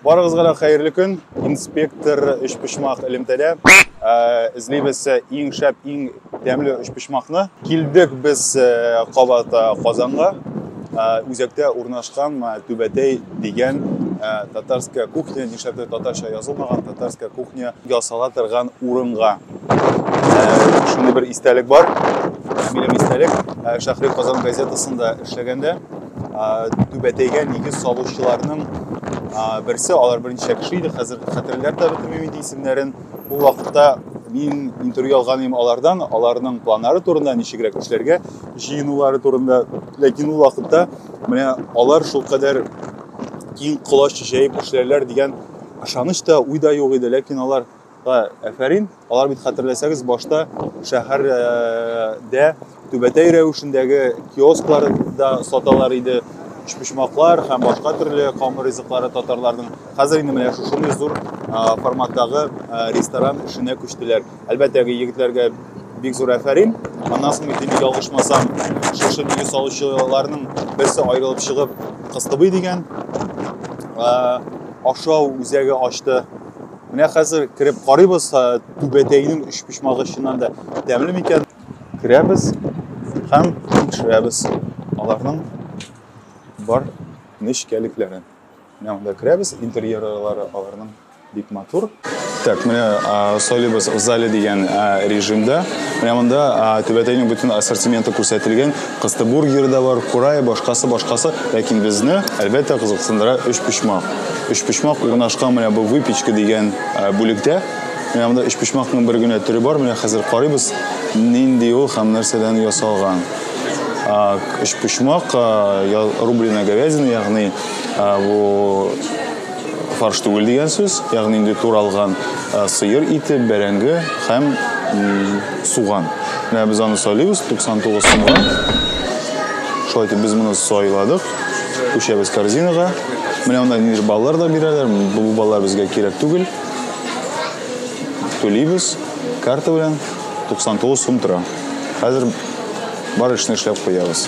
Барыгызга да хәерле көн. Инспектор өчпочмак элемтәдә эзлибез иң шәп, иң тәмле өчпочмакны. Килдек без кабат Казанга. Үзәктә урнашкан Түбәтәй дигән татарская кухня, нишләптер татарча язылмаган татарская кухня ясала торган урынга. Шундый бер истәлек бар. Минем истәлек Шәһри Казан газетасында эшләгәндә түбәтәйгә нигез салучыларның берсе алар берничә кеше иде хәзер хәтерләр дә бетермим инде исемнәрен ул вакытта мин интервью алган идем алардан аларның планнары турында ничегрәк эшләргә җыенулары турында ләкин ул вакытта менә алар шулкадәр киң колач җәеп эшләрләр дигән ышаныч та уй да юк иде ләкин алар Әфәрин, алар бит хәтерләсәгез башта шәһәрдә түбәтәй рәвешендәге киосклар да саталар иде, өчпочмаклар һәм башка төрле камыр ризыклары татарларның. Хәзер инде менә шушындый зур форматтагы ресторан эшенә күчтеләр. Әлбәттә, егетләргә бик зур әфәрин. Аннан соң инде бик ялгышмасам, шушы меню салучыларның берсе аерылып чыгып, Кыстыбый дигән ашау үзәге ачты. Менә хәзер кереп карыйбыз, түбәтәйнең өч почмагы чыннан да тәмле микән? Керәбез һәм тикшерәбез аларның бар нечкәлекләрен. Менә монда керәбез, интерьерлары аларның бик матур. Так, менә сойлыбыз в зале дигән режимда. Менә монда түбәтәйнең бөтен ассортименты күрсәтелгән. Кыстыбургер да бар, курай, башкасы, башкасы. Ләкин безне, әлбәттә, кызыксындыра өчпочмак. Өчпочмак урнашкан менә бу выпечка дигән э, бүлектә. Менә монда өчпочмакның бер генә төре бар. Менә хәзер карыйбыз, нинди ул һәм нәрсәдән ясалган. Өчпочмак, э, рубленая говядина, ягъни э, бу фарш түгел дигән сүз, ягъни инде туралган сыер ите, бәрәңге һәм суган. Менә без аны сайлыйбыз 99 сумга. Шулай итеп без моны сайладык. Күчәбез корзинага. Менә монда нидер баллар да бирәләр. Бу баллар безгә кирәк түгел. Түлибез карта белән 99 сум тора. Хәзер бар эшне эшләп куябыз.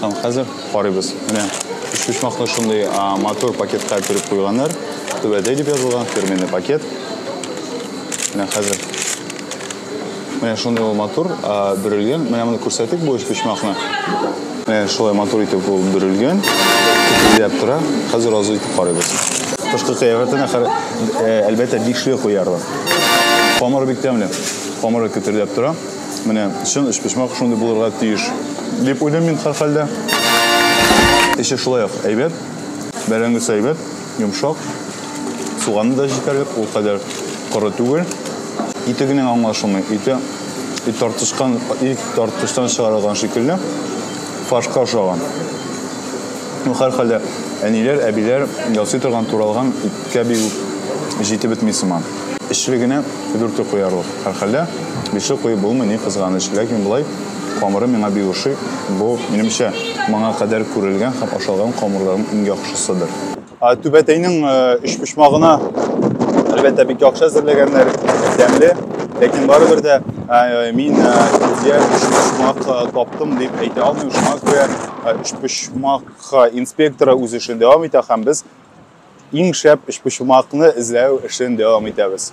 Там хәзер карыйбыз. Менә почмакны шундый матур пакетка төреп куйганнар. Түбәдә дип язылган фирменный пакет. Менә хәзер. Менә шундый ул матур бөрелгән. Менә моны күрсәтик бу почмакны. Менә шулай матур итеп ул бөрелгән. Күтәрелеп тора. Хәзер азу итеп карыйбыз. Кышкы кыяфәтенә әлбәттә бишле куярлар. Камыры бик тәмле. Камыры күтәрелеп тора. Менә чын өчпочмак шундый булырга тиеш дип уйлыйм мин һәрхәлдә. Эче шулай ук әйбәт, бәрәңгесе әйбәт, йомшак, суганы да җитәрлек, ул кадәр коры түгел. Ите генә аңлашылмый. Ите ит тартышкан, ит тартыштан чыгарылган шикелле фаршка ошаган. Ну, һәрхәлдә, әниләр, әбиләр ясый торган туралган иткә бигүк җитеп бетми сыман. Өчле генә дүрте куярлык. Һәрхәлдә, бишле куеп булмый, ни кызганыч. Ләкин болай камыры миңа бик ошый. Бу, минемчә, моңа кадәр күрелгән һәм ашалган камырларның иң яхшысыдыр. Түбәтәйнең өчпочмагына, әлбәттә, бик яхшы әзерләгәннәр, тәмле. Ләкин барыбер дә мин сезгә өчпочмак таптым дип әйтә алмыйм. Шуңа күрә өчпочмак инспекторы үз эшен дәвам итә һәм без Иң шәп өчпочмакны эзләү эшен дәвам итәбез.